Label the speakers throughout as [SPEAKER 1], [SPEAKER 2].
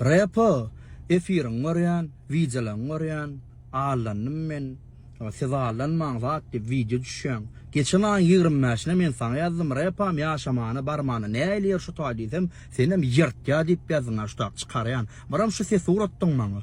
[SPEAKER 1] Repo efiriňi görýän, wideolaňy görýän, allandym men, siz allanmaň zat diýip wideo düşýäň. Geçen aýyň ýigrimi bäşine men saňa ýazdym, Repam ýaşamana barmana näýleýär şu taý diýsem, senem ýyrtýa diýip ýazdyň a şu tak çykarýan. Biram şu sesi ugrutdyň maňa.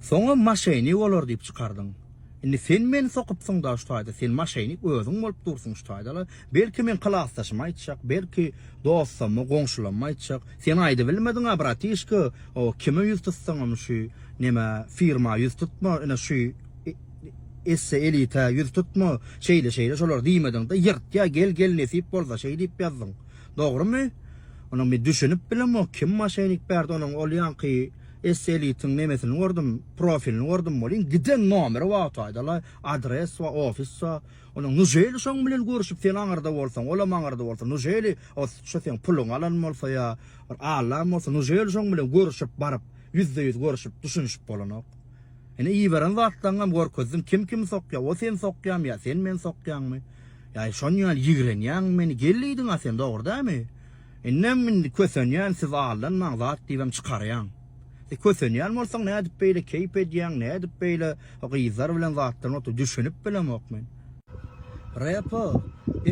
[SPEAKER 1] Soňam maşenik olar diýip çykardyň. Indi sen meni sokypsyň-da şu taýda, sen maşenik özüň bolup dursuň şu taýda-la. Belki meň klasdaşyma aýtjak, belki dostama, goňşulama aýtjak. Sen aýdybilmediň-ä, bratişka, o kime ýüz tutsaňam şu nämä, firma ýüz tutma, ine şu esse elita ýüz tutma, şeýle-şeýle şolar diýmediň-de, ýyrtýa gel, gel nesip bolsa şeý diýip ýazdyň. Dogrumy? Onuň men düşünip bilemok, kim maşenik berdi onuň ol ýaňky Esselitiň nemesini gördüm, profilini gördüm welin giden nomeri wagty aýdaly, adres we ofis we Onda nujeli şoň bilen görüşip sen aňyrda bolsaň, olam aňyrda bolsa, nujeli şu seň puluňy alan bolsa ýa bir allan bolsa, nujeli şoň bilen görüşip baryp, ýüzde ýüz görüşip düşünişip bolanok. Ine iberen zatlaňňam görkezdiň, kim kimi sokýa, o seni sokýamy ýa sen meni sokýaňmy? Ýa şon ýaly ýigrenýäňmi meni, gel diýdiňa sen dogry dämi? Indem indi kösenýän siz aldanmaň zat diýibem çykarýaň. Sen kösenýän bolsaň nädip beýle keýp edýäň nädip beýle o gyzlar bilen zatlaryň otyr düşünip bilemok men. Repo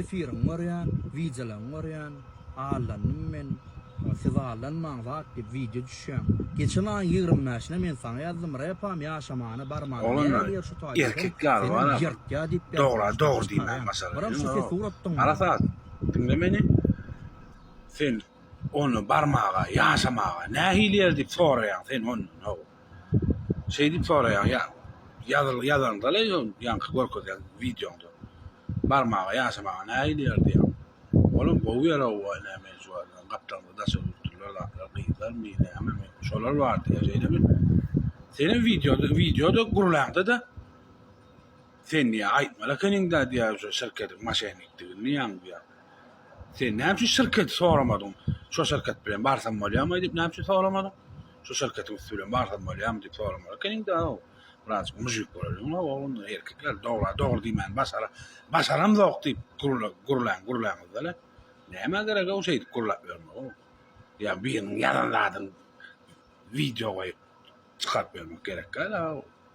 [SPEAKER 1] efiriňi görýän wideolaňy görýän aldandym men siz aldanmaň zat diýip wideo düşýäň. Geçen aýyň ýigrimi bäşine men saňa ýazdym repam ýaşamana barmana näme ýer şu taýda sen
[SPEAKER 2] seni ýyrtýa diýip ýazýan başdan çykarýaň. Biram şu sesi ugrutdyňmy? Diňle meni. Sen ony barmaga, ýaşamaga nähili ýer diýip soraýaň sen ondan, hawa. Şeý diýip soraýaň, ýa ýazyl ýazaňda-le şo ýaňky görkezen wideoňda. Barmaga, ýaşamaga nähili ýer diýýäň. Olam gowy ýer-ow, waý näme juwadan gapdalymyzda daş öwrülipdirler zatlar, gyzlarmy, nämemi, şolar bar diýýä, şeýlemi? Senem wideoda, wideoda gürläňde-de. Sen diýýär, aýtmaly ekeniň-dä diýýär, şu şirketiň moşennikdigini diýýäň diýýär. Sen näme üçin şirketi soramadyň? Şo şirket bilen barsam bolýarmy diýip näme üçin soramadyň? Şo şirketiň üsti bilen barsam bolýarmy diýip soramaly ekeniň-dä-ow. Birazjyk mujik bolalyň-la oglum, erkekler dogra dogry diýmäni başara, başaramzok diýip gürle, gürläň, gürläňiz-de-le. Nämä gerek-ow şeýdip gürläp ýörmeg-ow. Ýa biriniň ýazan zadyny wideo goýup çykaryp ýörmek gerek däl-ow.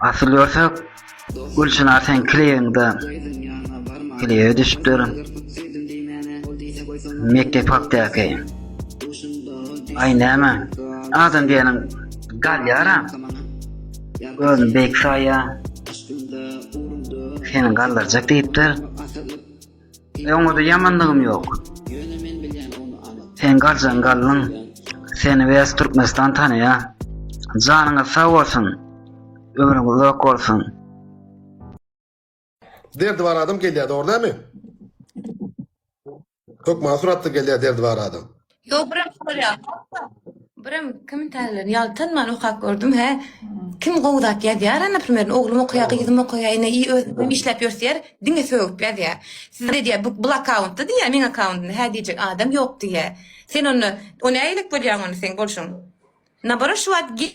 [SPEAKER 3] Asyl görse Gülçinar sen kliýeňde kliýe düşüpdir. Mekde pakdaky. Ay näme? Adam diýeniň galýara. Özüni beýik saýýar. Seni galdyrjak diýipdir. Öňüde ýamandygym ýok. Sen galjaň galnyň. Seni west Türkmenistan tanaýa. Janyňyz sag bolsun. Ömrüň uzak bolsun.
[SPEAKER 4] Derdi bar adam gelýär dogry näme? Hökman suratda gelýär derdi bar adam. Ýok, birem
[SPEAKER 5] sorýar. Birem kommentariýalaryny ýaltanman okap gördüm, hä. Kim gowy zat ýazýar, naprimer, oglum okaýar, gyzym okaýar, ine, i özüm işläp ýörseýär, diňe sögüp ýazýar. Siz diýýär, bu, bul akkauntda diýýär, meň akkauntymda hä diýjek adam ýok diýýär. Sen onda, o nägilek bolýaň onda seň bolşuň? Naborot, şu wagt ge-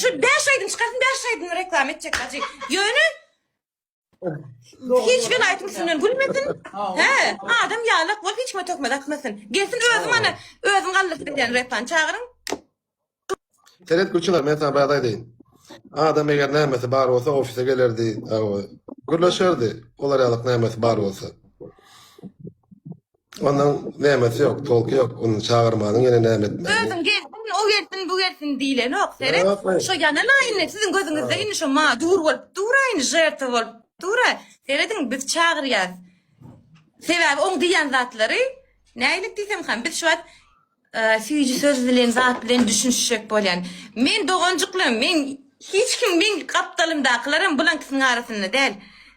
[SPEAKER 4] Şu 5
[SPEAKER 5] aýdym çykarsyn 5 aýdym reklama etjek hajy. Ýöne hiç bir aýdym üstünden gülmesin. He, adam ýalak bolup hiç kime tökmez atmasyn. Gelsin özüm ana özüm galdyryp berýän repan çagyryň.
[SPEAKER 4] Seret gülçiler men sana bir aýdaýyn. Adam eger nämesi bar bolsa ofise gelerdi, gürleşerdi. Olar ýalyk nämesi bar bolsa. Ondan nämesi ýok, tolky ýok. Ony çagyrmanyň ýene näme etmeli? Özüň gelsin, o
[SPEAKER 5] gelsin, bu gelsin diýlenok. Seret, Ýok, ýok. şo ýanana indi siziň gözüňizde indi şo ma dur bolup dur-a indi, žertwa bolup dur-a. Serediň, biz çagyrýarys. Sebäbi oň diýen zatlary nähililik diýsemkam, biz şu wagt Süýji söz bilen zat bilen düşünişjek bolýan. Men doganjyklarym, men hiç kim, men gapdalymdakylaram bulaňkysynyň arasynda däl.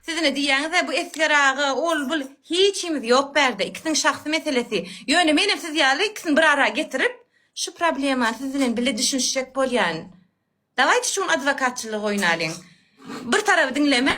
[SPEAKER 5] Siz ine diýýäňiz-ä bu Esger aga, ol, bul, hiçimiz ýok bärde, ikisiniň şahsy meselesi. Ýöne menem siz ýaly ikisini bir ara getirip, şu problemany siz bilen bile düşünişjek bolýan. Dawaýte şu gün adwokatçylygy oýnalyň. Bir taraby diňlemäň.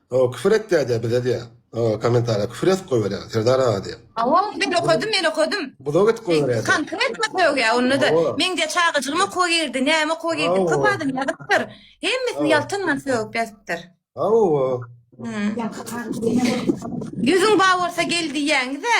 [SPEAKER 4] Hawa küfür et diýýär diýýär bize diýýär. Hawa kommentariýa küfür ýazyp goýberýär Serdar aga diýip. Hawa ony men okadym men
[SPEAKER 5] okadym. Buzak edip goýberýär.
[SPEAKER 4] Konkretno sögýär
[SPEAKER 5] onda-da. Meň diýýär çagajygym okuwa girdi, näme okuwa girdi diýip köp adam ýazypdyr. Hemmesini ýaltanman sögüp ýazypdyr. Hawa. Ýüzüň bar bolsa gel diýýäňiz-ä.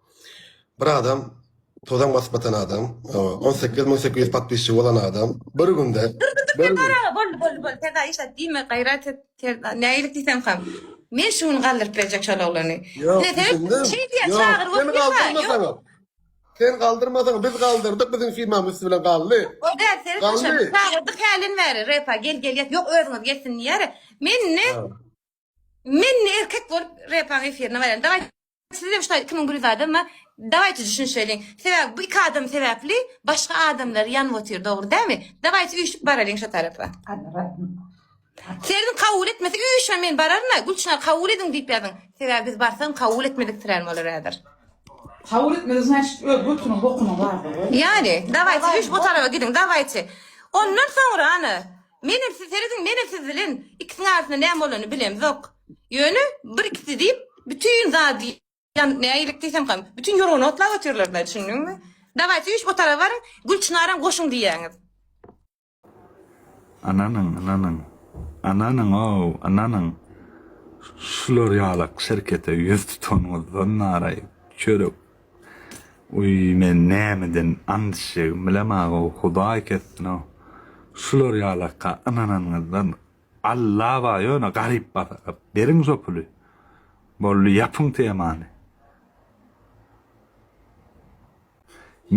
[SPEAKER 4] Bir adam tozan basyp atan adam on sekiz müň sekiz ýüz podpisçigi bolan adam bir günde bir gün Boldy
[SPEAKER 5] boldy boldy terza işlet diýme gaýrat et terza näilik diýseň ham men şu gün galdyryp berjek şol oglany Ýok Ine sen düşündim şeý diýýä Ýok çagyryp sen oturýa ha ýok galdyrmasaňam Sen
[SPEAKER 4] galdyrmasaňam biz galdyrdyk biziň firmamyz üsti bilen galdy o däl seni Galdy.
[SPEAKER 5] taşladyk çagyrdyk hälin bäri repa gel gel ýet ýok özüňiz gelsin diýýäri men indi Ha. Men ne erkek bolup repaň efirine baren. Daway siz hem şular kimin gülüz adam ma. Daway düşün şöyle. Sebäp bu iki adam sebäpli başga adamlar yan otyr dogry dämi? Daway üýşüp baralyň şu tarapa. Serin kabul etmesi üýşen men bararna. Gülçinar kabul edin diyip yazın. Sebäp biz barsan kabul etmedik tiren bolar ädir. Kabul
[SPEAKER 6] etmedi znaçit öz götünün bokunun vardyr. Yani daway
[SPEAKER 5] üýşüp o tarapa gidin daway. Ondan soňra ana. Menem siz serediň menem siz bilen ikisiň arasynda näme bolany bilemzok ýöne bir ikisi diýip bütin zady ýan nägirek diýsem kam bütin ýorgany otlap otyrlarda düşündiňmi daway siz üýşip otara baryň Gülçynaram goşuň diýýäňiz. Ynanyň ynanyň
[SPEAKER 7] ynanyň ow ynanyň şular ýalak şerkete ýüz tutanyňyzdan naraý çörek Uý men nämeden andişegim bilemagau hudaý kessinau şular ýalaka ynananyňyzdan Alla bar ýöne garyp basara beriň şo puly boldy ýapyň temany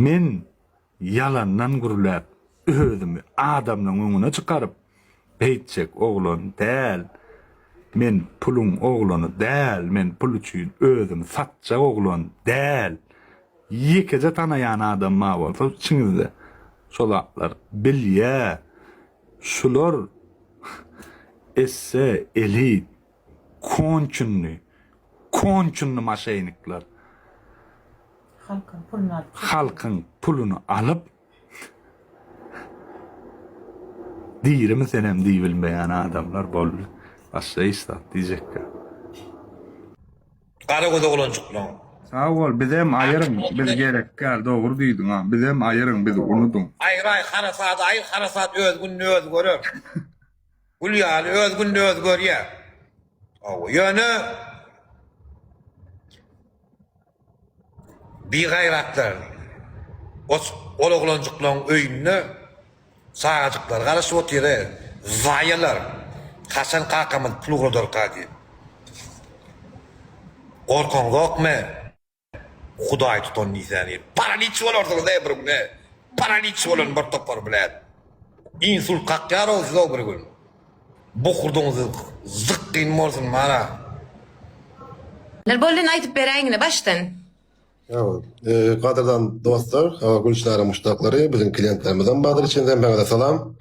[SPEAKER 7] men Ýalandan gürläp, özümi adamlaň öňüne çykaryp, beýtjek oglan däl. Men puluň oglany däl, men pul üçin özümi satjak oglan däl. Ýekeje tanaýan adam bar bolsa içiňizde, şo zatlar bilýä. Şular esse, elit, Konçunny konçunny maşenikler. Halkyň puluny alyp çekýär. Halkyň puluny alyp Dirimi senem diýbilmeýän adamlar boldy. Başda işdap diýjekkä.
[SPEAKER 2] Gara göz oglanjyklaň. Sag bol
[SPEAKER 7] bizem aýyryň biz gerekgäl dogry diýdiň a bizem aýyryň biz unudyň. Aýyraý harasady
[SPEAKER 2] aýyr harasat öz gününi özi görer. Gül ýaly öz günde özi görýär. Hawa, ýöne bigaýratlar ot ol oglanjyklaň öýünde çagajyklar garaşyp otyra, zaýalar, haçan kakamyz pul ugradarka diýip. Gorkaňzokmy? Hudaý tutan diýsäni. Paraliç bolarsyňyz-e bir gün-e. Paraliç bolan bir topar blet. Insult kakýar-ow siz-ow bir gün. Bokurdagyňyz zykgyn bolsun mara.
[SPEAKER 5] Nirbollyny aýdyp beräýiňne başdan. Sagboluň.
[SPEAKER 4] Gadyrdan dostlar, hawa Gülçinaryň muşdaklary, biziň kliýentlerimizem bardyr içinde, maňada salam.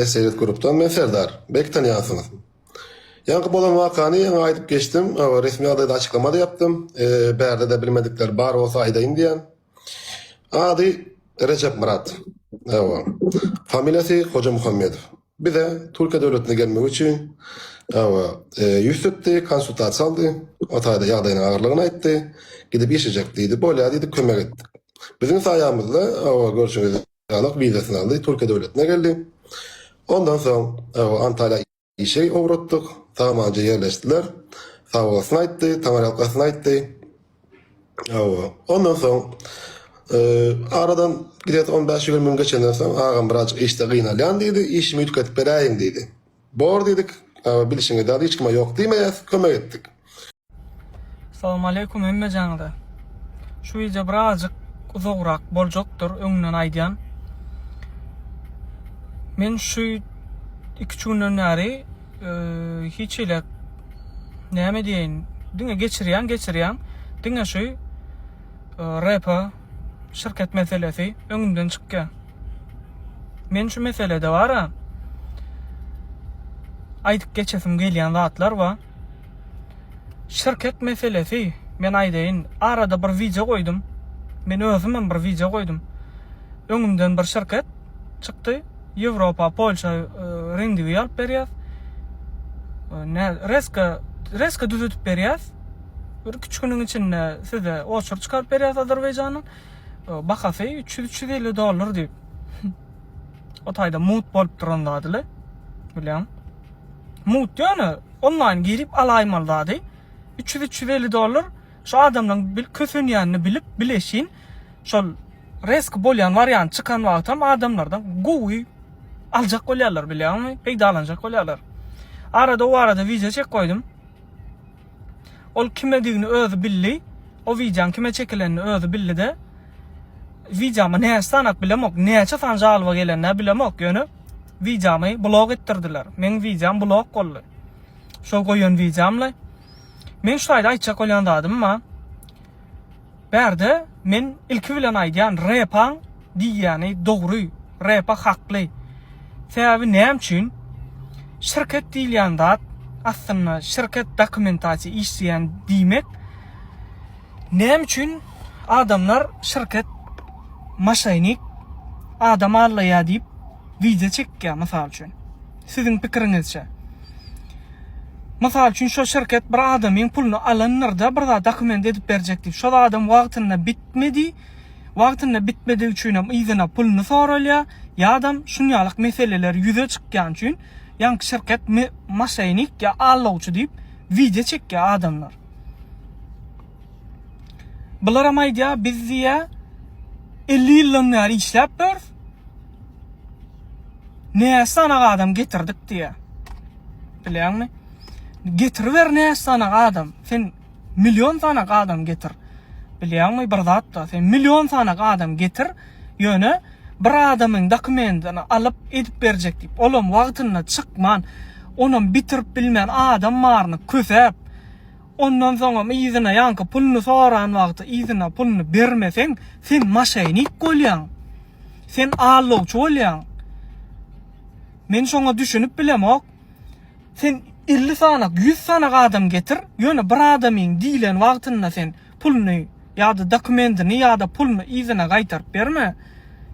[SPEAKER 4] SRS Grupdan men Serdar. Belki tanýansyňyz. Ýaňky bolan wakany ýaňy aýdyp geçdim. Resmi ýagdaýda açyklamada ýapdym. Bärde-de bilmedikler bar bolsa aýdaýyn diýýän. Ady Rejep Myrat. Ewa. Familiýasy Hoja Muhammedow. Bize Türkiýe döwletine gelmegi üçin ewa ýüz tutdy, konsultasiýa aldy. O taýda ýagdaýynyň agyrlygyny aýtdy. Gidip işlejek diýdi. Bolýar diýdi, kömek etdik. Biziň saýamyzda ewa görşüňiz Ýanak wizasyny aldy, Türkiýe döwletine geldi. Ondan soň Antalýa işe ugratdyk. Samanja ýerleşdiler. Sagbolsun aýtdy, taňryýalkasyn aýtdy. Ondan soň aradan gidesi on bäş-ýigrimi gün geçenden soň agam birazjyk işde gynalýan diýdi, işimi üýtgetip beräýiň diýdi. Bor diýdik. Bilşiňiz ýaly hiç kime ýok diýmeýäs. Kömek etdik.
[SPEAKER 8] Salowmaleýkum hemmejaňyza. Şu wideo birazjyk uzagrak boljakdyr, öňünden aýdýan. Men şu iki-üç günden bäri hiç hile näme diýeýin, diňe geçirýän, geçirýän, diňe şu RP şirket meselesi öňümden çykýar. Men şu meselede bara aýdyp geçesim gelýän zatlar bar. Şirket meselesi, men aýdaýyn, arada bir wideo goýdum. Men özüm hem bir wideo goýdum. Öňümden bir şirket çykdy. Ýewropa, Polşa rendiwi alyp berýär. Ne, reska, reska düzedip berýär. Bir iki üç günüň içinde size oçur çykaryp berýär Azerbaýjanyň. Bahasy 300-350 dollar diýip. O taýda mut bolup duran zady le. Bilýän. Mut ýöne onlaýn girip alaýmaly zady. 300-350 dollar şu adamdan bil kösenýänini bilip bileşin şol resk bolýan wariant çykan wagtam adamlardan gowy aljak bolýarlar bilýäňmi? Peýdalanjak bolýarlar. Arada o arada wiza çek goýdum. Ol kimedigini özi bildi. O wideoň kime çekilenini özi bildi-de, Wideoma näçe sanap bilemok, näçe san žalyba gelendä bilemok, ýöne wideomy blok etdirdiler. Meň wideom blok boldy. Şol goýan wideomly. Meň şu taýda aýtjak bolýan zadym bar. Bärde men ilki bilen aýdýan Repaň diýýäni dogry, Repa hakly. Sebäbi näme üçin? Şirket diýilýän zat aslynda şirket dokumentasiýa işleýän diýmek. Näme üçin adamlar şirket maşainik adam allaýýar diýip wideo çekýär mysal üçin. Siziň pikiriňizçe. Mysal üçin şo şirket bir adamyň puluny alandyr-da bir zat dokument edip berjek diýip. Şol adam wagtynda bitmedi. Wagtynda bitmedigi üçinem yzyna puluny soralýa. Ýadam şunýalyk meseleler ýüze çykýan üçin ýaňky şirket moşenik ýa allawçy diýip wideo çekýa adamlar. Bularam aýdýa biz diýýa elli ýyldan bäri işläp ýörs. Näçe sanaga adam getirdik diýýä. Bilýäňmi? Getiriber näçe sanaga adam. Sen million sanaga adam getir. Bilýäňmi bir zatda? Sen million sanaga adam getir. Ýöne bir adamyň dokumentini alyp edip berjek diýip, olam wagtynda çykman, onam bitirip bilmän adam baryny kösäp, Ondan soňam yzyna ýaňky puluny soran wagty yzyna puluny bermeseň sen maşenik bolýaň. Sen aldawçy bolýaň. Men şoňa düşünip bilemok. Sen elli sanak, ýüz sanak adam getir, ýöne bir adamyň diýlen wagtynda sen puluny ýa-da dokumentini ýa-da puluny yzyna gaýtaryp berme.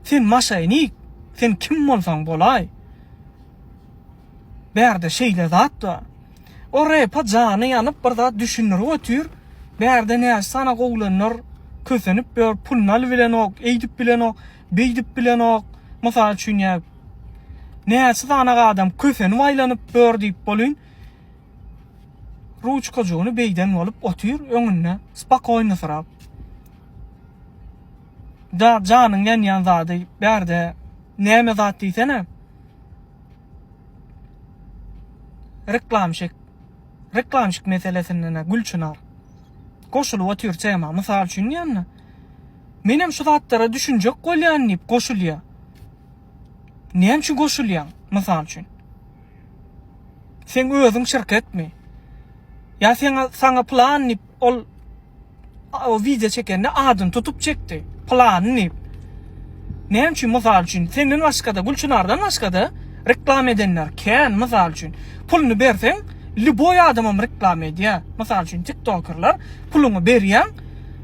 [SPEAKER 8] Sen maşenik. Sen kim bolsaň bolaý. Bärde şeýle zat bar. O repa jany ýanyp bir zat düşündirip otyr, bärde näçe sany gowulanlar kösenip ýör, puluny alyp bilenok, eýdip bilenok, beýdip bilenok, mysal üçin ýa näçe sany adam kösenip aýlanyp ýör diýip bolyn, ruçkajygyny beýden bolup otyr öňünde spokoýnysyrap. Da janyň ýanýan zady bärde näme zat diýsene. Reklamşik reklamşik meselesindena Gülçynar goşulyp otyr tema mysal üçin diýenna menem şu zatlara düşünjek bolýan diýip goşulýa näme üçin goşulýaň mysal üçin seň özüň şirketmi ýa seň saňa plan diýip Ol o wideo çekende adyny tutup çekdi. Pylany diýip. Näme üçin mysal üçin senden başgada Gülçynardan başgada reklama edenler kän mysal üçin. Puluny berseň lýuboý adamam reklama edýär. Mysal üçin tiktokerler puluňy berýäň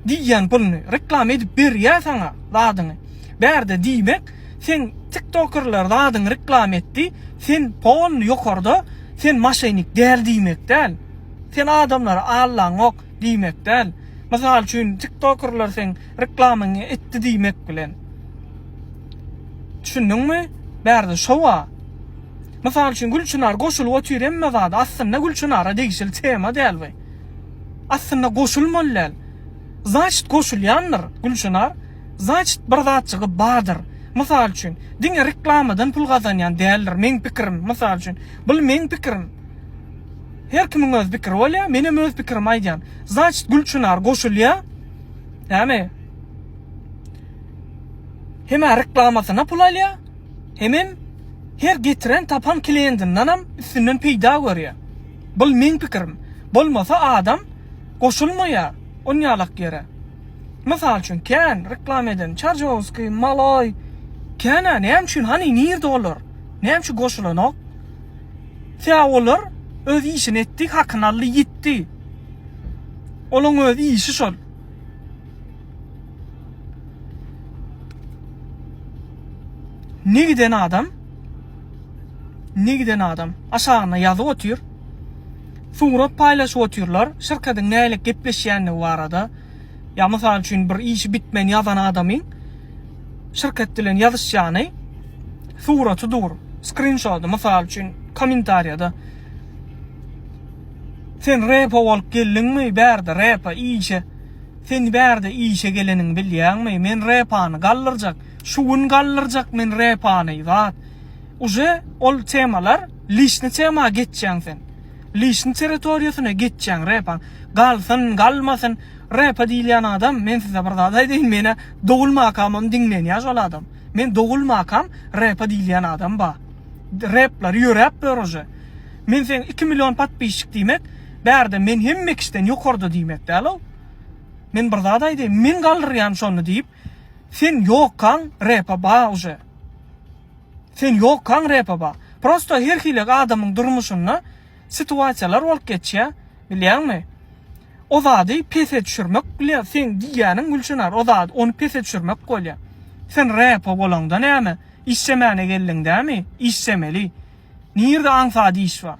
[SPEAKER 8] diýýän puluny reklama edip berýär saňa zadyňy. Bärde diýmek sen tiktokerler zadyňy reklama etdi sen polny ýokarda sen maşenik däl diýmek däl. Sen adamlara Allaňok diýmek däl. Mysal üçin tiktokerler seň reklamyňy etdi diýmek bilen. Düşündiňmi? Bärde şowa. Mysal üçin Gülçynar goşulyp otyr hemme zada. Aslynda Gülçynara degişli tema däl bu. Aslynda goşulmaly däl. Znaçit goşulýandyr Gülçynar. Znaçit bir zatjygy bardyr. Mysal üçin diňe reklamadan pul gazanýan däldir meň pikirim. Mysal üçin. Bul meň pikirim. Her kimiň öz pikiri bolýa, men hem öz pikirimi aýdýan. Znaçit Gülçynar goşulýa. Näme? Hem a reklamasyna pul alýa, hem hem her getiren tapan kliýendinden hem üstünden peýda görýä. Bul meň pikirim. Bolmasa adam goşulmaýa on ýalak ýere. Mysal üçin kän reklama eden Çarjowskiý, Maloý, kän a näme üçin hany nirde olar? Näme üçin goşulanok? Tä olar öz işini etdi, hakyny aldy, ýitdi. Olaň öz işi şol. Ne giden adam, ne giden adam aşagyna ýazyp otyr. Surat paýlaşyp otyrlar, şirketiň nälik gepleşýändigi barada. Ýa mysal üçin bir işi bitmän ýazan adamyň Şirket bilen ýazyşýany, suraty dur, skrinşody, mysal üçin, kommentariýada Sen repo bolup geldiňmi bärde repo işe Sen bärde işe geleniňi bilýäňmi men repany galdyrjak şu gün galdyrjak men repany zat uje ol temalar lişni tema geçýäň sen lişni territoriýasyna geçýäň repaň galsyn galmasyn repo diýilýän adam men size bir zat aýdaýyn menä Dogulmakamam diňlenýäş ol adam. Men dogulmakam repa diýilýän adam ba. Replary ýöräp böruje. Men seň iki million podpisçik diýmek bärde men hemme kişiden ýokarda diýmek dälow. Men bir zat aýdaýyn men galdyrýan şony diýip sen ýokkaň repa ba uje. Sen ýokkaň repa ba. Prosto her hili adamyň durmuşynda situasiýalar bolup geçýär bilýäňmi. O zady pese düşürmek bilýär seň diýýäniň Gülçynar o zady ony pese düşürmek bolýar. Sen repo bolaňda näme işjemäne geldiň dämi işjemeli. Nirde aňsat iş bar.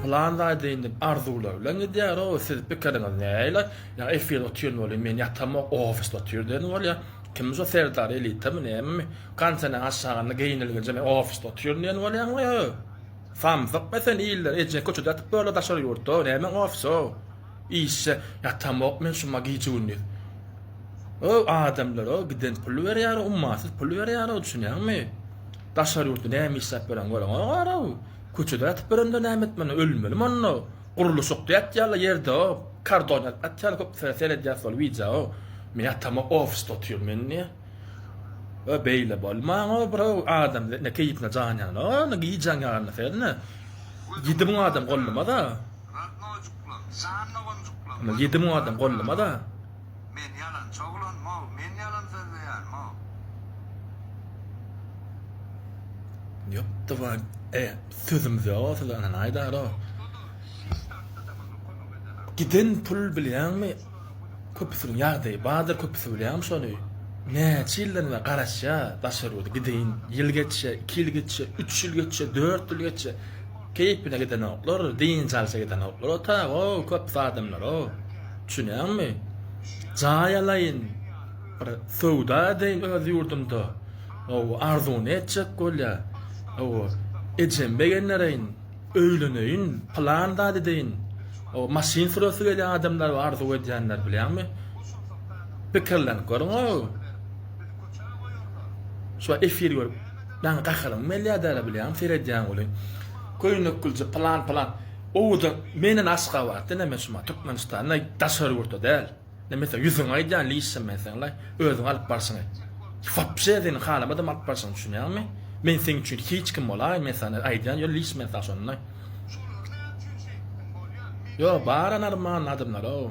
[SPEAKER 7] Pylan zaýdyn diýip arzuwlar bilen gidýär o siz pikiriňiz näle ýa efir otyr welin men ýatamok ofisde otyr diýen bolýa kim şo serdar elitami nämemi gançanem aşagynda geýnilginje men ofisde otyryn diýen bolýaňmy ýa samsykmy sen iller ejeň köçede ýatyp böle daşary ýurtda nämeň ofis o işe ýatamok men şuma gije gündiz o adamlar o giden pul berýär ummasyz pul berýär o düşünýäňmi daşary ýurtda näme işläp ýören göreňogarow Köçede ýatyp ýörende näme etmeli, ölmeli monda, gurluşykda ýatýala ýerdeo, kardon ýazyp atýala köp sene seredýas şol wideao, men ýatamo ofisde otyryn men diýýä. Ýa beýle bolmaňa birao adam ine keýpine jan ýana ine gijäň ýarynda serine ýedi müň adam gollamada. Radnojuklar, janna gonjuklar. Ine ýedi müň adam gollamada.
[SPEAKER 2] Men ýalançy
[SPEAKER 7] oglanmog, men ýalan sözleýänmog. Ýokda-ba, e, sözümüz ýok-a size, ynha aýdar-a. Giden pul bilýäňmi, köpüsiniň ýagdaýy bardyr, köpüsi bilýärmi şony? Näçe ýyldan bäri garaşýar daşary ýurda, gideýin, ýyl geçýär, iki ýyl geçýär, üç ýyl geçýär, dört ýyl geçýär. Keýpine gidenoklar, dynç alşa gidenoklar otaga, köpüsi adamlar o. Düşünýäňmi? Jaý alaýyn, bir söwda edeýin öz ýurdumda. Hawa, arzuwyny etjek bolýar. Hawa, ejemi begendereýin, öýleneýin, pylan zat edeýin. Hawa, maşyn süresi gelýän adamlar bar arzuw edýänler, bilýäňmi? Pikirlenip görüň-ow. Şu efir görüp. Daň gaharym gelýär dälä bilýäňmi seredýän weli köýnekgülje pylan pylan owadan menden aşgabat ineme şuma türkmenistanda daşary ýurtda däl neme sen ýüzüňi aýdýan lişem men seňle özüň alyp barşyňy wapşe seniň halamadam alyp barşyňy düşünýäňmi men seň üçin hiç kim bolaýyn men saňa aýdýan ýöne liş men saňa şonda ýok bara normalny adamlarow.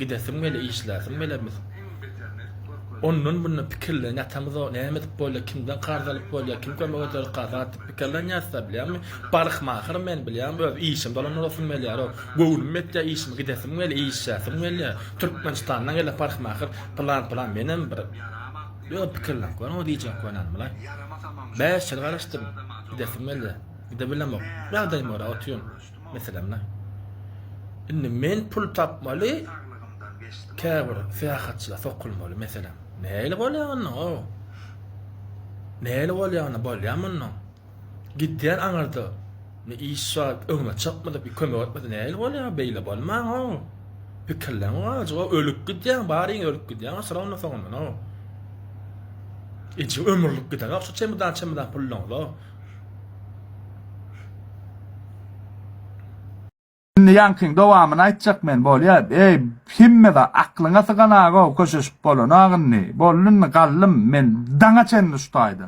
[SPEAKER 7] Gidesiň bile işläsiň bile biz ondan bundan pikirlenip ýatamyzok näme edip bolýar kimden karz alyp bolýar kim kömek eder karz atyp pikirlenýäsda bilýäňmi barykma ahyry men bilýäňmi öz işim dolan durasym gelýärok göwnüm ýetýär işime gidesiň bile işläsiň bile türkmenistandan gelip barykma ahyry pylan pylan menem bir ýöne pikirlenip görüň diýjek bolýan bile bäş ýyl garaşdym gidesiň bile gidebilemok ýagdaýym görä otyryn. Meselem, indi men pul tapmaly, käbir syýahatçylar sokulmaly, meselem. Nähili bolýar onda o? Nähili bolýar onda? Bolýar mundan. Gidýär aňyrda. Ne iş bar, öňüme çykmady, bir kömek etmedi. Nähili bolýar? Beýle bolman o. Pikirlen o ajy, o ölüp gidýär, baryň ölüp gidýär, o syragynda soňundan o. Eje ömürlik gider o, şu çemdan-çemdan puldan o.
[SPEAKER 9] Indi ýaňkyň dowamyny aýtjak men, bolýa. Eý, hemmede aklyňa sygan aga-ow, köşeşip bolanok indi. Boldy indi, galdym men daňa çenli şu taýda.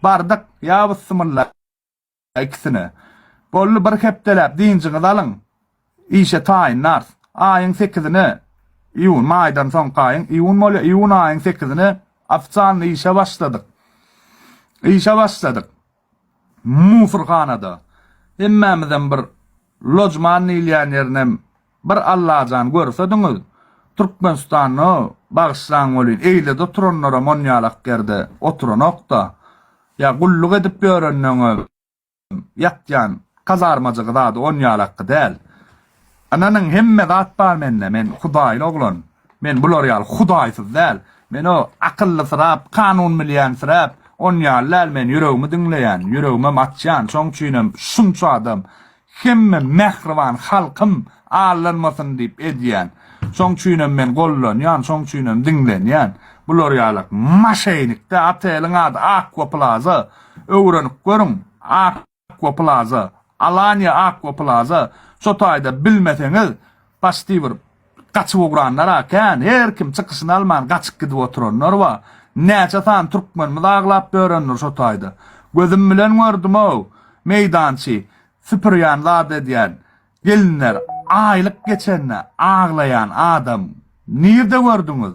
[SPEAKER 9] Bardyk, ýa byssymylla ikisine. Boldy, bir hepdeläp dynjyňyzy alyň. Işe taýyn nars. Aýyň sekizine, iýun, maýdan soňky aýyň, iýun bolýar, iýun aýyň sekizine ofitsialny işe başladyk. Işe başladyk. Musurhanada. Hemmämizem bir lojman diýilýän ýerinem bir Allajan görsediňiz. Türkmenistanda, bagyşlaň welin, eýlede oturanlaram onýalak ýerde oturanok-da. Ýa gulluk edip ýörenden-ä. ýatýan kazarmajygy zady on ýalakky däl. Ynanyň, hemme zat bar mende, men hudaýly oglan. Men bular ýaly hudaýsyz däl. Men o akyllysyrap, kanun bilýänsirap, on ýaly däl. Men ýüregimi diňleýän, ýüregimem açýan. Şoň üçinem şunça adam, hemme mähriban halkym allanmasyn diýip edýän. Şoň üçinem men gollanýan, şoň üçinem diňlenýän. Bular ýalak maşenik-dä, oteliň ady Aqua Plaza. Öwrenip görüň, Aqua Plaza, Alanya Aqua Plaza, şo taýda bilmeseňiz, paçti bir gaçyp ugranlar-a kän, her kim çykyşyny alman gaçyp gidip oturanlar bar. Näçe sany türkmenimiz aglap börendir şo taýda. Gözüm bilen gördüm-ow, meýdançy süpürýän zat edýän gelinler aýlyk geçende aglaýan adam nirde gördüňiz?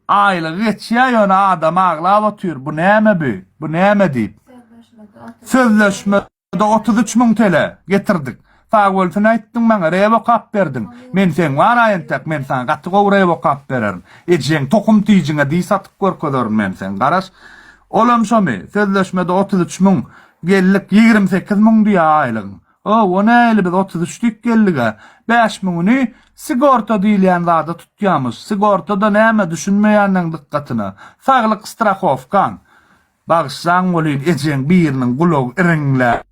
[SPEAKER 9] Aýlygy geçýär ýöne adam aglap otyr bu näme bi bu näme diýip. Sözleşmede otuz üç müň tele getirdik. Sagbölsin aýtdyň maňa rep okap berdiň. Men seň wara entek men saňa gaty gowy rep okap bererin. Ejeň tohum tijiňe diý satyp görkezerin men seň garaş. Olam şomy sözleşmede otuz üç müň geldik ýigrimi sekiz müň diýýär aýlygyň. Hawa, nähili biz otuz üç dik geldig-ä? Bäş müňüni sigorta diýilýän zada tutýamyş. Sigorta-da näme, düşünmeýänleň dykgatyna, saglyk strahowkaň. Bagyşlaň welin, ejeň biriniň gulagy iriňläp,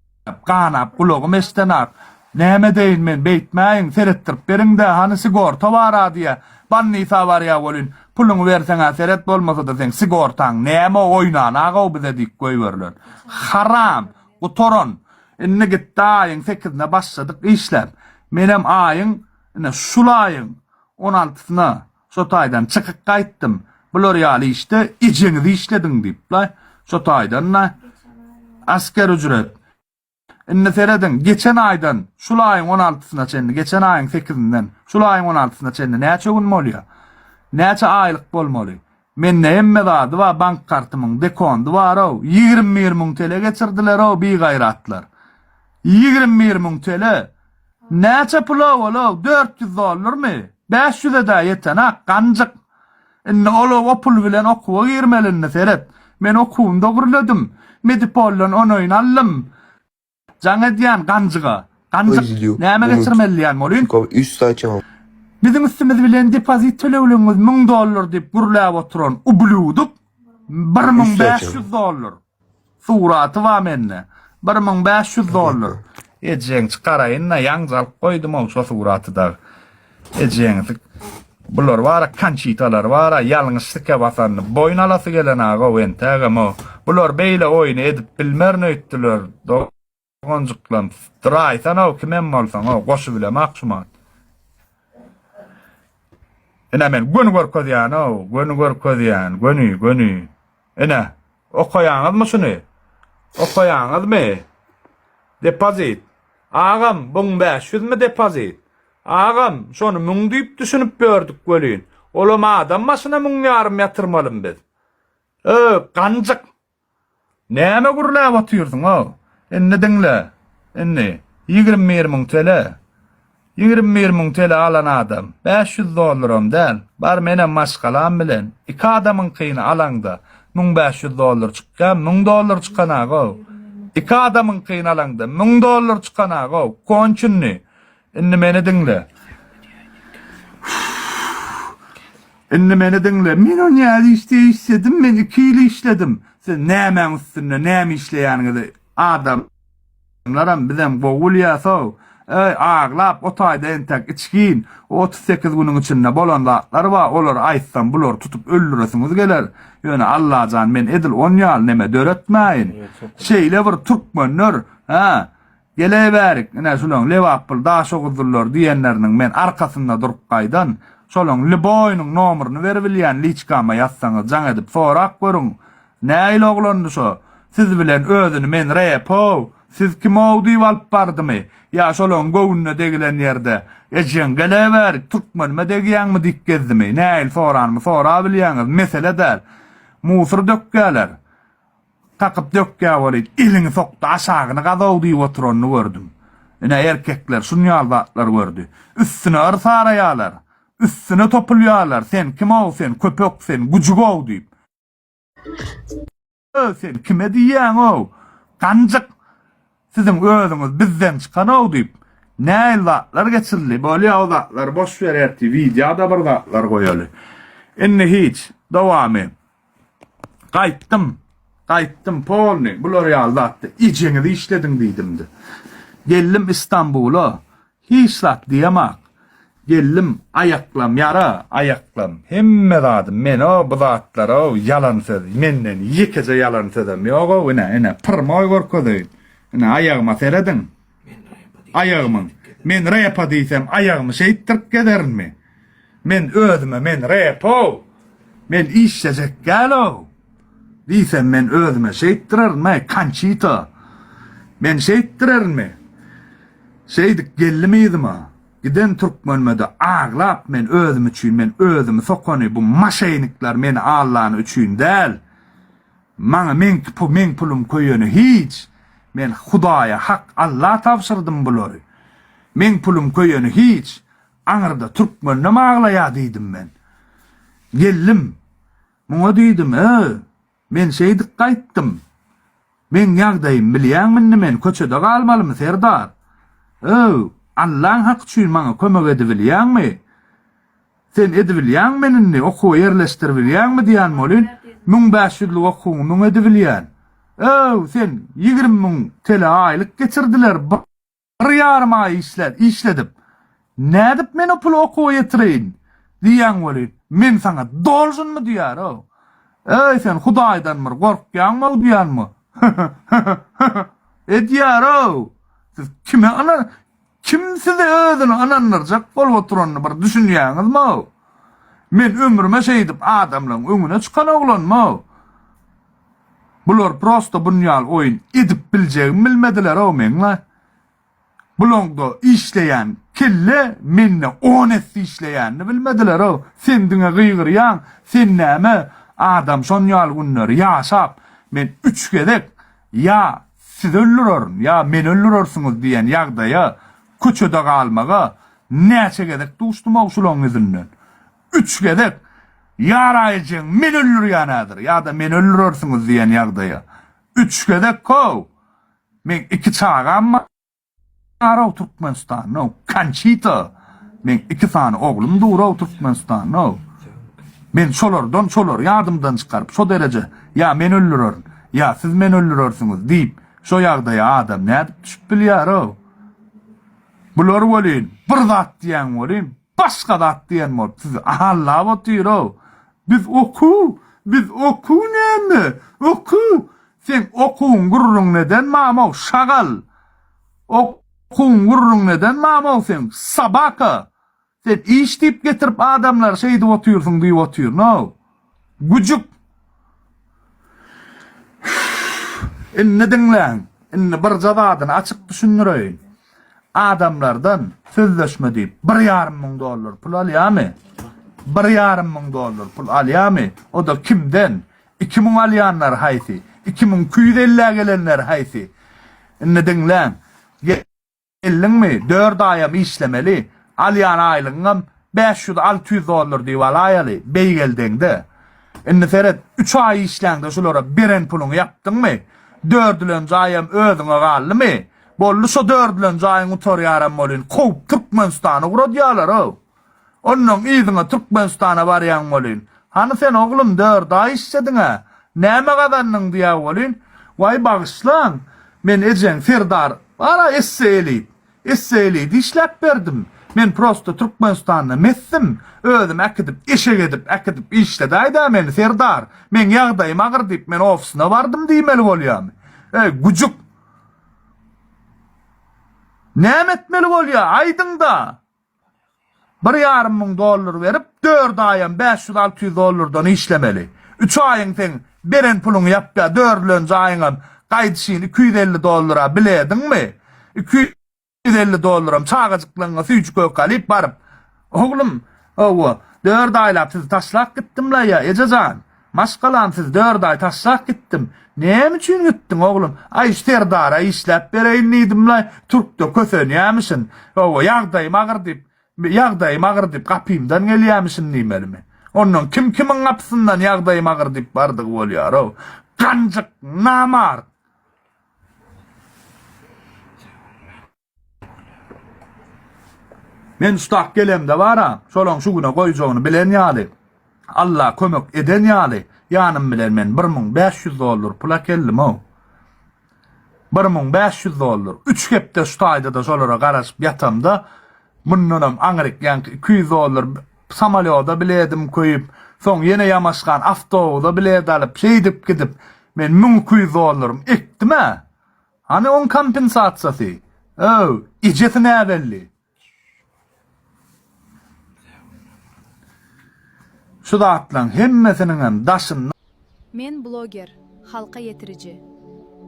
[SPEAKER 9] ganap, gulagym eşdenak. Näme edeýin men, beýtmäýin, seretdirip beriň-dä, hany sigorta bar-a diýýä. Bannysa barýa welin, puluňy berseň-ä seret, bolmasa-da seň sigortaň näme, oýnan-a-gowy bize diýip goýberiler. Haram! Gutaran! Indi gitdi aýyň sekizine başladyk işläp. Menem aýyň, ine, şul aýyň on altysyna şo taýdan çykyp gaýtdym. Bular ýaly işde ejeňiz işlediň diýipler. Şo taýdan-da asker ücret. Indi serediň, geçen aýdan şul aýyň on altysyna çenli, geçen aýyň sekizinden şul aýyň on altysyna çenli näçe gün bolýar? Näçe aýlyk bolmaly? Mende hemme zady bar bank kartymyň dekondy barow ýigrim bir müň tele geçirdilerow bigaýratlar ýigrim bir müň tele näçe pulow olow dört ýüz dollarmy bäş ýüzedä ýetenak ganjyk indi olow o pul bilen okuwa girmeli indi seret men okuwym dogryledim medipoldan onoýn aldym Jaň edýän ganjyga. Ganjyk, näme geçirmeli diýýän bolýyn.
[SPEAKER 10] Biziň üstümiz
[SPEAKER 9] bilen depozit tölegligiňiz müň dollar diýip gürläp oturan ublýuduk bir müň bäş ýüz dollar. Suraty bar mende. Bir müň bäş ýüz dollar. Ejeň çykaraýyn-da, ýaňja alyp goýdum-ow şo suraty dagy. Ejeňiz Bular bara kançitalar bara ýalňyş sike basandy. Boýun alasy gelen agow entegem o. Bular beýle oýny edip bilmerin öýtdüler. Doganjyklam draýsanow kimem bolsaňow goşy bilem akşumat. Ine men göni görkezýänow göni görkezýän göni göni. Ine, okaýaňyzmy şuny? Okaýaňyzmy? Depozit. Agam, buň bäş ýüzmi depozit? Agam, şony müň diýip düşünip ýördük welin, olam adam başyna müň ýarym ýatyrmalymy biz? Öý, ganjyk! Näme gürläp otyrsyň-ow? Indi diňle. Indi, ýigrimi bir müň tele. Ýigrimi bir müň tele alan adam, bäş ýüz dollaram däl, bar menem maşgalam bilen, iki adamyňkyny alaňda, müň bäş ýüz dollar çykýar, müň dollar çykanagow. Iki adamyňkyny alaňda, müň dollar çykanagow. Konçunny. Indi meni diňle. Indi meni diňle. Men o nädip işde işledim, men iki ýyl işledim. Siz nämäň üstünde, näme işleýäniňizi, adam. Şunlaram bizem gowy bilýäsow. Öý, aglap otaýda entek içgin. O otuz sekiz günüň içinde bolan zatlar bar, olary aýtsam bulary tutup öldüresiňiz geler. Ýöne Allajan men edil on ýaly neme döretmäýin. Şeýle bir türkmenler, hä, geleýbärik, ine şulaň Lebaply Daşoguzlylar diýenleriniň men arkasynda durup gaýdan, şolaň lboýynyň nomeryny beribilýän liçkama ýazsaňyz jaň edip sorap görüň. Nähili oglandy şo, siz bilen özüni men Repow, siz kimow diýip alyp bardymy? Ýa şolaň göwnüne degilen ýerde, Ejeň, geleweri, türkmenime degýäňmi diýip gezdimi? Nähili soranymy sorabilýäňiz, mesele däl. Musur dökýäler. Kakyp dökýä welin, eliňi sok-da aşagyny gazow diýip oturanyny gördüm. Ine, erkekler şunýaly zatlar gördi. Üstüne yrs araýalar. Üstüne topulýalar, sen kimow, sen köpek, sen güjügow diýip. Öý sen kime diýýäňow? Ganjyk siziň özüňiz bizden çykanow diýip näil zatlar geçirildi bolýa o zatlar boş ber ertir wideoda bir zatlar goýaly indi hiç dowamy gaýtdym gaýtdym polny bular ýaly zatda ejeňizi işlediň diýdimdi geldim istanbula Hiç zat diýemok. Geldim, aýaklam ýara, aýaklam, hemme zadym men-ow, bu zatlar-ow, ýalan söz, menden ýekeje ýalan sözem ýog-ow, ine, ine, pyrmaý görkezeýin, ine, aýagyma serediň, aýagymyň, men repa diýsem, aýagymy şeýtdirip gezerinmi? Men özüme men repow, men işlejek dälow diýsem men özüme şeýtdirerinmi konçito men şeýtdirerinmi şeýdip geldim yzyma giden türkmenmede aglap men özüm üçin men özümi sokany bu maşeýnikler meni allany üçin däl maňa meňki pul meň pulum köýeni hiç men hudaýa hak alla tabşyrdym bulary meň pulum köýeni hiç Aňyrda türkmenem aglaýa diýdim men. Geldim. Muňa diýdim, Ö, men şeýdip gaýtdym. Meň ýagdaýym bilýäňmi indi men köçede galmalymy, serdar? Ö, Allaň haky üçin maňa kömek edibilýäňmi? Sen edibilýäňmi meni indi okuwa ýerleşdiribilýäňmi diýýän bolin, müň bäş ýüzlük okuwyňy müň edibilýän. Ö, sen ýigrimi müň tele aýlyk geçirdiler. Bir ýarym aý işläp, işledip, nädip men o puly okuwa ýetireýin? diýýän weli, men saňa dolžynmy diýär-ow. Eý, sen Hudaýdan bir gorkýaňmy-ow diýýänmi? Hä-hä-hä-hä-hä! edýär-ow. Siz kime ynan, kim sizi özüne ynandyrjak bolup oturanyny bir düşünýäňizmi-ow? Men ömrüme şeýdip adamlaryň öňüne çykan oglanmy-ow? Bular prosta bunýal oýun edip biljegimi bilmedilerow meňle. Bulaňda işleýän kelle mende on esse işleýänini bilmedilerow. Sen diňe gygyrýaň, sen näme adam şonýal günleri ýaşap, men üç gezek ýa sizi öldürerin, ýa meni öldürersiňiz diýen ýagdaýa, köçede galmaga näçe gezek duşdumow şulaň yzyndan. üç gezek Ýaraýjyň men öldürýänädir ýa-da meni öldürersiňiz diýen ýagdaýa. Üç gezek kow. Meň iki çagam bar-ow Türkmenistanda-ow. Konçita. Meň iki sany oglum dur-ow Türkmenistanda-ow. Men şolardan, şolary ýadymdan çykaryp, şo dereje ýa men öldürerin, ýa siz meni öldürersiňiz diýip, şo ýagdaýa adam nädip düşüp bilýär-ow? Bular welin, bir zat diýen welin, Başga zat diýen bolup sizi ahallap otyr-ow. Biz okuw, biz okuw näme? Okuw? Seň okuwyň gürrüň neden mamow, şagal? Okuwyň gürrüň neden mamow seň, sobaka? Sen iş diýip getirip adamlary şeýdip otyrsyň diýip otyryn-ow. Güjük! Indi diňläň. Indi birje zadyny açyk düşündireýin. Adamlardan sözleşme diýip bir ýarym müň dollar pul alýamy? Bir ýarym müň dollar pul alýamy? O-da kimden? Iki müň alýanlar haýsy? Iki müň iki ýüz elli-ä gelenler haýsy? Indi diňläň. Geldiňmi, dört aýam işlemeli, alýan aýlygyňam bäş ýüz, alty ýüz dollar diýip alaýaly, beýgeldeňde. Indi seret, üç aý işläňde şulara beren puluňy ýapdyňmy? Dördülenji aýam özüňe galdymy? Boldy, şo dördülenji aýyň gutarýaram welin, kowup Türkmenistany ugradýarlar-ow! Onnoň yzyňa Türkmenistana barýan bolyn. Hany sen oglum dört aý işlediň-ä? Näme gazandyň diýä bolyn. Waý bagyşlaň, men ejeň Serdar bar-a esse elit. Esse eliti işläp berdim. Men prosta Türkmenistanda mesdim. Özüm äkidip, eşek edip, äkidip işledäý-dä meni Serdar. Meň ýagdaýym agyr diýip men ofisyna bardym diýmeli bolýamy? Eý, güjük! Näme etmeli bolýa, aýdyň-da! Bir ýarym müň dollar berip, dört aýam bäş ýüz alty ýüz dollardan işlemeli. Üç aýyň seň beren puluň ýapýar, dördülenji aýyňam gaýdyşyn iki ýüz elli dollara bilediňmi? Iki ýüz elli dollaram çagajyklaryňa süýji-köke alyp baryp, Oglum, hawa, dört aýlap sizi taşlap gitdim-la ýa, eje jan. Maşgalam siz dört aý taşlap gitdim. Näme üçin gitdiň oglum? Aý şu serdara işläp bereýin diýdimlaý, türkde kösenýämişin. Hawa, ýagdaýym agyr diýip, ýagdaýym agyr diýip gapymdan gelýämişin diýmelimi? Ondan kim kimiň gapysyndan ýagdaýym agyr diýip bardygy bolýar-ow. Ganjyk, namart! Men ustak gelemde bara, şolaň şu güne goýjagyny bilen ýaly, Alla kömek eden ýaly, ýanym bilen men bir müň bäş ýüz dollar pula keldim-ow. Bir müň bäş ýüz dollar. Üç hepde şu taýda-da şolara garaşyp ýatamda, mundanam aňryk ýaňky iki ýüz dollar samolýoda biledim köýüp, soň ýene ýamaşgan awtobusa bilet alyp, şeýdip gidip, men müň iki ýüz dollarym ekdim-ä. Hany oň kompensasiýasy? Öw, ejesi näbelli. Şu zatlaň hemmesiniňem daşynda. Men bloger,
[SPEAKER 10] halka ýetiriji.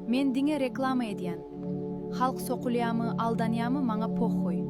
[SPEAKER 10] Men diňe reklama edýän. Halk sokulýamy, aldanýamy maňa pohhuý.